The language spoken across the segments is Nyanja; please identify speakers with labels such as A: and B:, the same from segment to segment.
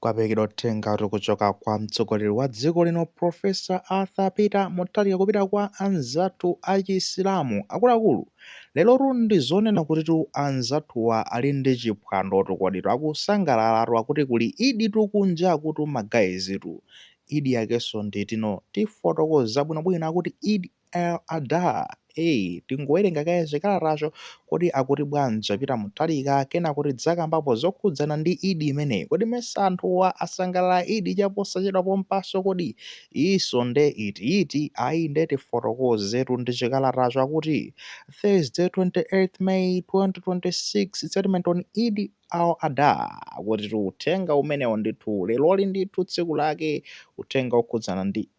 A: Kwaperekedwa uthengatu kuchoka kwa mtsogoleri wa dziko lino Professor Arthur Peter Mutharika kupita kwa anzathu a Chisilamu akuluakulu. Lerotu ndi zonena kutitu anzathuwa ali ndi chiphwandotu koditu akusangalalatu akuti kuli Eiditu kunjakutu ma guys tu. Eid yakenso ndi iti? Tifotokoza bwinobwino akuti Eid Al-Adha, ee. Tingowerenga kaye chikalatacho, kodi akuti bwanji? A Peter Mutharika, Kenako tidzakambapo zokhudzana ndi Eid imeneyi. Kodi mesa anthuwa asangalala Eid chaposachedwa pompaso kodi? Iyiso nde iti iti? Ayi nde tifotokozetu ndi chikalatacho akuti Thursday 28th May 2026 statement on Eid Al-Adha akutitu uthenga umenewo ndithu leroli ndithu tsiku lake uthenga okhudzana ndi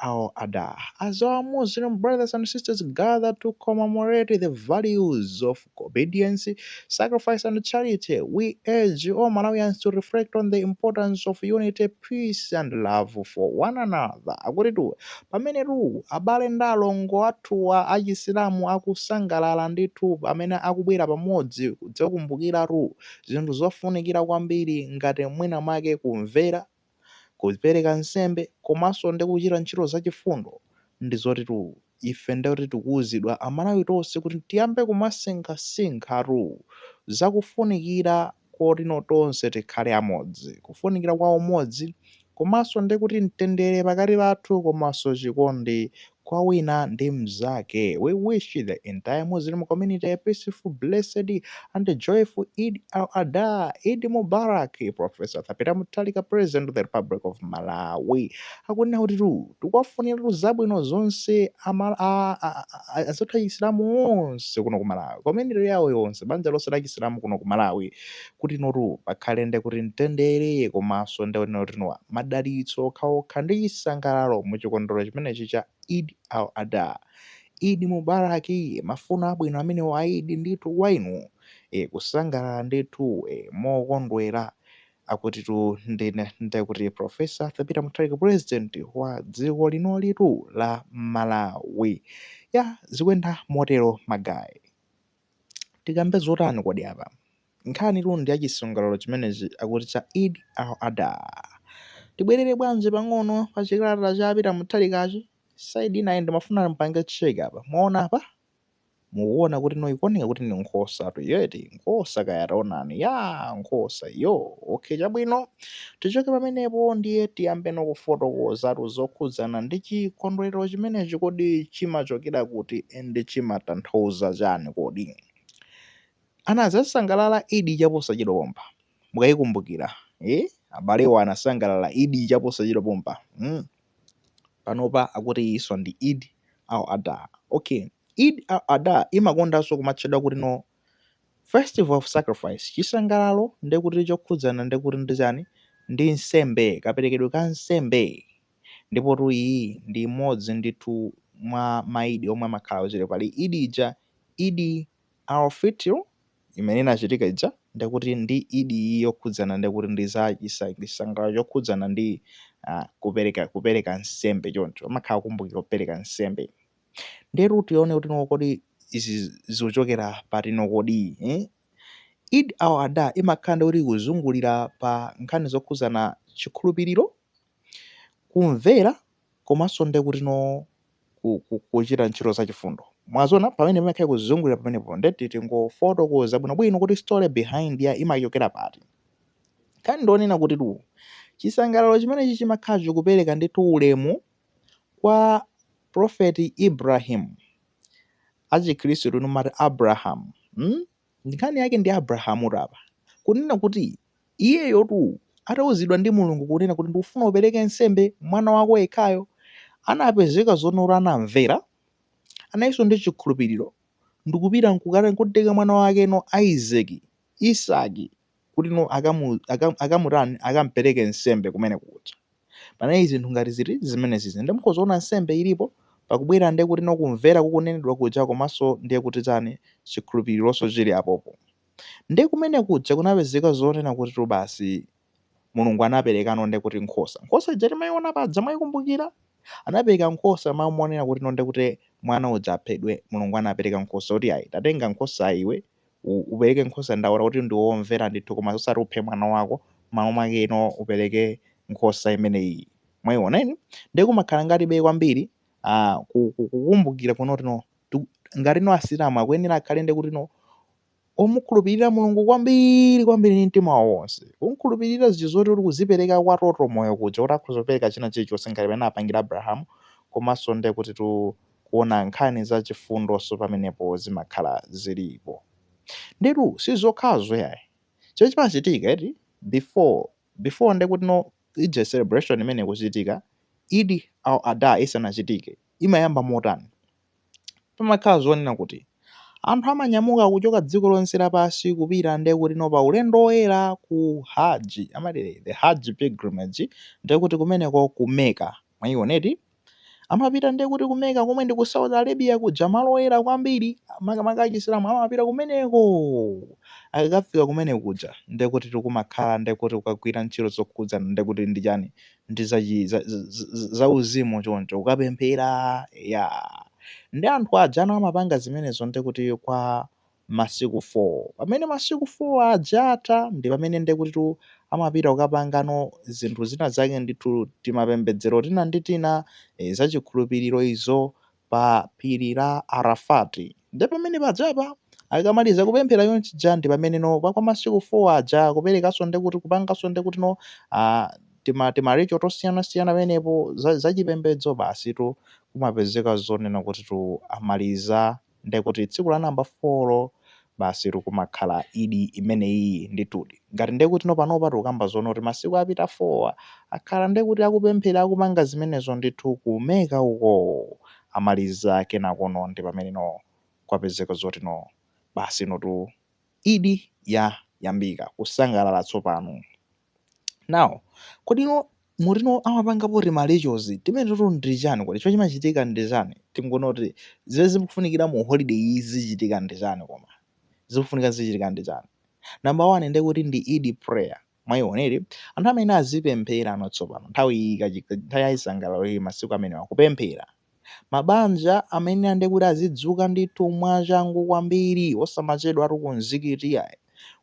A: Al-Adha as our Muslim brothers and sisters gather to commemorate the values of obedience, sacrifice and charity, we urge all Malawians to reflect on the importance of unity, peace and love for one another. Akutitu pamenetu abale ndi alongo athuwa achisilamu akusangalala ndithu pamene akubwera pamodzi kudzakumbukiratu zinthu zofunikira kwambiri ngati mwina mwake kumvera, kupereka nsembe komanso ndi kuchita ntchito zachifundo ndi zotitu ife nde kuti tikuuzidwa Amalawi tonse kuti tiyambe kumasinkhasinkhatu za kufunikira kotino tonse tikhale amodzi, kufunikira kwa umodzi komanso ndi kuti mtendere pakati pathu komanso chikondi kwa wina ndi mzake. We wish the entire Muslim community a peaceful, blessed and joyful Eid al-Adha, Eid Mubarak, Professor Arthur Peter Mutharika President of the Republic of Malawi. Akunena kutitu tikuwafuniratu zabwino zonse ama- a- a- a- a- azathu achisilamu onse kuno ku Malawi, community yawo yonse, banja lonse la chisilamu kuno ku Malawi, kutinotu pakhale ndi kuti mtendere komanso ndi wonena kutino madalitso okhaokha ndi chisangalalo mu chikondwero chimenechi cha Eid al-Adha. Eid Mubarak mafuno abwino amenewo a Eid ndithu kwa inu e kusangalala ndithu e mokondwera akutitu ndine nde kuti Professor Arthur Peter Mutharika President wa dziko linolitu la Malawi. Ya zikuenda motero ma guy. Tikambe zotani kodi apa? Nkhanitu ndi ya chisangalalo chimenechi akuti cha Eid al-Adha. Tibwerere bwanji pang'ono pa chikalata cha Peter Mutharikachi? Side inayi ndimafuna mpange check apa. Mwaona apa? Mukuona kutino ikuoneka kuti ndi nkhosatu iyo eti? Nkhosa kaya taonani. Ya nkhosa iyo. Okay chabwino. Tichoke pamenepo ndiye tiyambeno kufotokozatu zokhudzana ndi chikondwerero chimenechi. Kodi chimachokera kuti and chimatanthauza chani kodi? Anzathu asangalala Eid chaposachedwa pompa. Mukayikumbukira, eh, abalewa anasangalala Eid chaposachedwa pompa, mm. Panopa akuti iyinso ndi Eid al-Adha. Okay, Eid al-Adha imakondanso kumatchedwa kuti no Festival of sacrifice, chisangalalo ndekuti chokhudzana ndekuti ndi chani? Ndi nsembe, kaperekedwe ka nsembe. Ndipotu iyi ndi imodzi ndithu mwa maidi omwe amakhala akutchire. Pali idi ija, Idi al Fitr, imene inachitika ija, ndekuti ndi idi iyi yokhudzana ndekuti ndi za chisangalalo chokhudzana ndi kupereka kupereka nsembe choncho. Amakhala akukumbukira kupereka nsembe. Ndetu tione kuti no kodi izi zikuchokera pati no kodi eh? Eid al-Adha imakhala ndikuti ikuzungulira pa nkhani zokhudzana chikhulupiriro, kumvera komanso ndekuti no ku- ku- kuchita ntchito zachifundo mwaziona pamene pamakhala kuzungulira pamenepo nde titi tingofotokoza bwinobwino kuti story behind ya imachokera pati nkhani ndi yonena kuti tu chisangalalo chimenechi chimakhala chikupereka ndithu ulemu Kwa prophet Ibrahim achikhristu inu mumati Abraham mm? Nkhani yake ndi Abrahamutu apa kunena kuti iyeyotu atauzidwa ndi Mulungu kunena kuti ndikufuna upereke nsembe mwana wako yekhayo, anapezeka zoona tu anamvera, analinso ndi chikhulupiriro ndikupita nkukatenga mwana wake no Isaac Isaki kutino akamu, akamu, akamutani akampereke nsembe kumene kuja panalitu zinthu ngati ziti zimenezizi nde mukhoza kuona nsembe ilipo pakubwera nde kutino kumvera kukunenedwa kuja komanso ndiye kuti chani chikhulupirironso chili apopo nde kumene kuja kunapezeka zonena kutitu basi Mulungu anaperekano nde kuti nkhosa, nkhosa ija timaiona paja mwaikumbukira? Anapereka nkhosa mmalo monena kutino nde kuti mwana uja aphedwe Mulungu anapereka nkhosa kuti ayi tatenga nkhosayi iwe upereke nkhosa ndaona kuti ndiwe womvera ndithu koma osati uphe mwana wako m'malo mwake no upereke nkhosa imeneyi mwayiona inu ndiye kumakhala ngati be kwambiri ah, ku- ku- kukumbukira kunena tino tu- ngati no asilamu akuyenera akhale ndi kuti no omukhulupirira mulungu kwambiri kwambiri ndi mtima wawo wonse kumkhulupirira zinthu zoti uti kuzipereka kwa toto moyo kuja kuti akhoza kupereka china chilichonse ngati mmene anapangira abrahamu komanso ndiye kuti tu kuona nkhani za chifundonso pamenepo zimakhala zilipo ndetu si zokhazo yayi chimene chimachitika eti before before ndekuti no ija celebration imene ikuchitika Eid al Adha isanachitike imayamba motani pamakhala zoona kuti anthu amanyamuka kuchoka dziko lonse lapansi kupita ndekuti no pa ulendo woyera ku Hajj amati the Hajj pilgrimage ndekuti kumeneko ku Mecca mwayiona eti Amapita ndiye kuti ku Mecca komwe ndi ku Saudi Arabia kuja malo oyera kwambiri makamaka achisilamu amapita kumeneko. Akakafika kumene kuja ndiye kuti n'kumakhala ndiye kuti kukagwira ntchito zokhudzana ndiye kuti ndi chani ndi zachi- za- za- za- zauzimu choncho kukapemphera ya ndi anthu ajano amapanga zimenezo ndiye kuti kwa masiku 4. Pamene masiku 4 aja atha ndi pamene nde kutitu amapita kukapangano zinthu zina zake ndithu, timapembedzero tina ndi tina, e, zachikhulupiriro izo, pa phiri la Arafat. Nde pamene pajapa akamaliza kupemphera chonchija ndi pamene no pa kwa masiku 4 aja kuperekanso nde kuti kupanganso nde kuti no, a, tima, tima ritual tosiyanasiyana pamenepo za, zachipembedzo basitu kumapezeka zoona kutitu amaliza ndekuti tsiku la namba folo basi tu kumakhala idi imeneyiyi ndithudi ngati ndekuti no panopa tikukamba zoona kuti masiku apita foa akhala ndekuti akupemphera akupanga zimenezo ndithu ku Mecca ukoo amaliza kenako no ndi pamene no kwapezeka zoti no basi notu idi yayambika kusangalala tsopano Now, kodi no muti no amapangapo tima rituals timene toto ndi chani kodi chimene chimachitika ndi chani tingoona kuti zimene zikufunikira mu holiday iyi zichitika ndi chani koma zikufunika zichitika ndi chani number one ndi kuti ndi Eid prayer mwaiona eti anthu amene azipempherano tsopano nthawi iyi kachi- nthawi ya chisangalalo iyi masiku amenewa kupemphera mabanja amene ndi kuti azidzuka ndithu mwachangu kwambiri osamachedwatu ku mzikiti ayi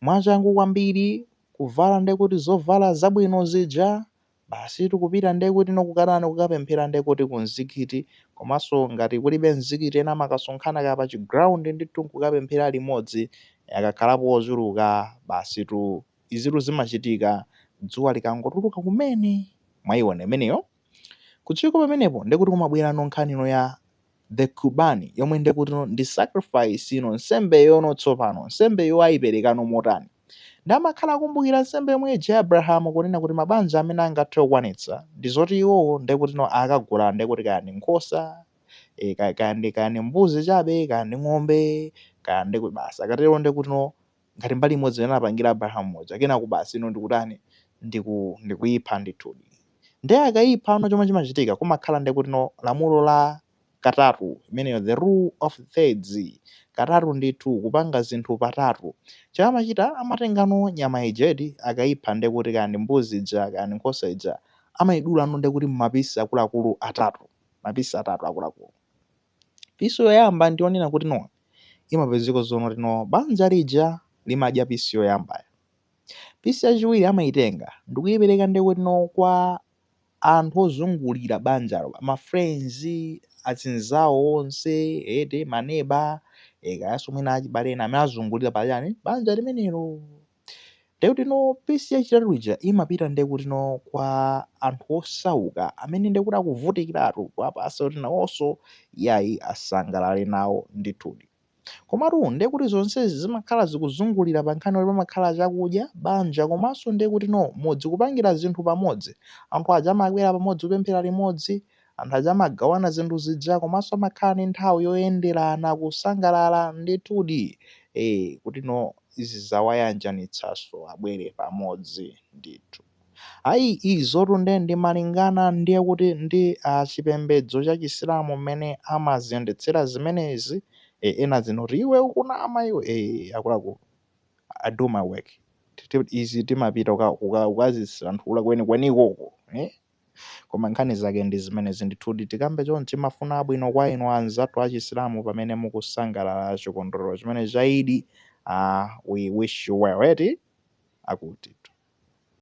A: mwachangu kwambiri kuvala ndiye kuti zovala zabwino zija, basitu kupita ndiye kuti no kukatani, kukapemphera ndiye kuti ku mzikiti, komanso ngati kulibe mzikiti ena amakasonkhana kaya pa chi ground ndithu n'kukapemphera limodzi, akakhalapo ochuluka basitu izitu zimachitika dzuwa likangotuluka kumene, mwayiona imeneyo? Kuchoka pamenepo ndiye kuti kumabwerano nkhani ino ya The Qurbani, yomwe ndi kuti no, ndi sacrifice yo no, nsembeyo no tsopano, nsembeyo aiperekano motani. Nde amakhala akumbukira nsembe yomwe ija ya Abrahamu kunena kuti mabanja amene angathe kukwanitsa ndi zoti iwowo ndi kuti no akagula ndi kuti kaya ndi nkhosa, eh, kaya, kaya ndi, kaya ndi mbuzi chabe, kaya ndi ng'ombe, kaya ndi kuti basi akatero ndi kuti no ngati mbali imodzi imene anapangira Abrahamu muja, kenako basi ino ndikutani ndiku ndikuipha ndithudi. Nde akaipha no chomwe chimachitika kumakhala nde kuti no lamulo la katatu imeneyo the rule of thirds katatu ndithu kupanga zinthu patatu. Chomwe amachita amatenga no nyama ija eti akaipha nde kuti kaya ndi mbuzi ija kaya ndi nkhosa ija amaidula no nde kuti mumapisi akuluakulu atatu mapisi atatu akuluakulu. Pisi yoyamba ndi yonena kuti no imapezeka zonena kuti no banja lija limadya pisi yoyambayo. Pisi yachiwiri amaitenga ndikuipereka ndi kuti no kwa anthu ozungulira banjalo, ma friends, azinzawo onse, eti maneba, e, kayanso mwina achibale ena amene azungulira pa chani banja limenelo. Ndiye kutino pisi yachitatu ija imapita ndiye kutino kwa anthu osauka amene ndiye kuti akuvutikiratu kuwapasa kuti nawonso yayi asangalale nawo ndithudi. Komatu ndiye kuti zonsezi zimakhala zikuzungulira pa nkhani yoti pamakhala chakudya, banja komanso ndiye kutino mudzi kupangira zinthu pamodzi. Anthu aja amabwera pamodzi kupemphera limodzi, Anthu aja amagawana zinthu zija komanso amakhala ndi nthawi yoyenderana, kusangalala ndithudi ee kuti no izi zawayanjanitsanso abwere pamodzi ndithu. Ayi izotu nde ndi malingana ndiye kuti ndi a chipembedzo cha Chisilamu mmene amaziyendetsera zimenezi ee ena azinoti iwe ukunama iwe ee akuluakulu I do my work. Izi timapita kuka kuka kukazisanthula kwenikweniko uko ee. Koma nkhani zake ndi zimenezi ndithudi. Tikambe chonchi mafuno abwino kwa inu anzathu achisilamu pamene mukusangalala chikondwerero chimene cha Idi. Ah, we wish you well eti? Akutitu.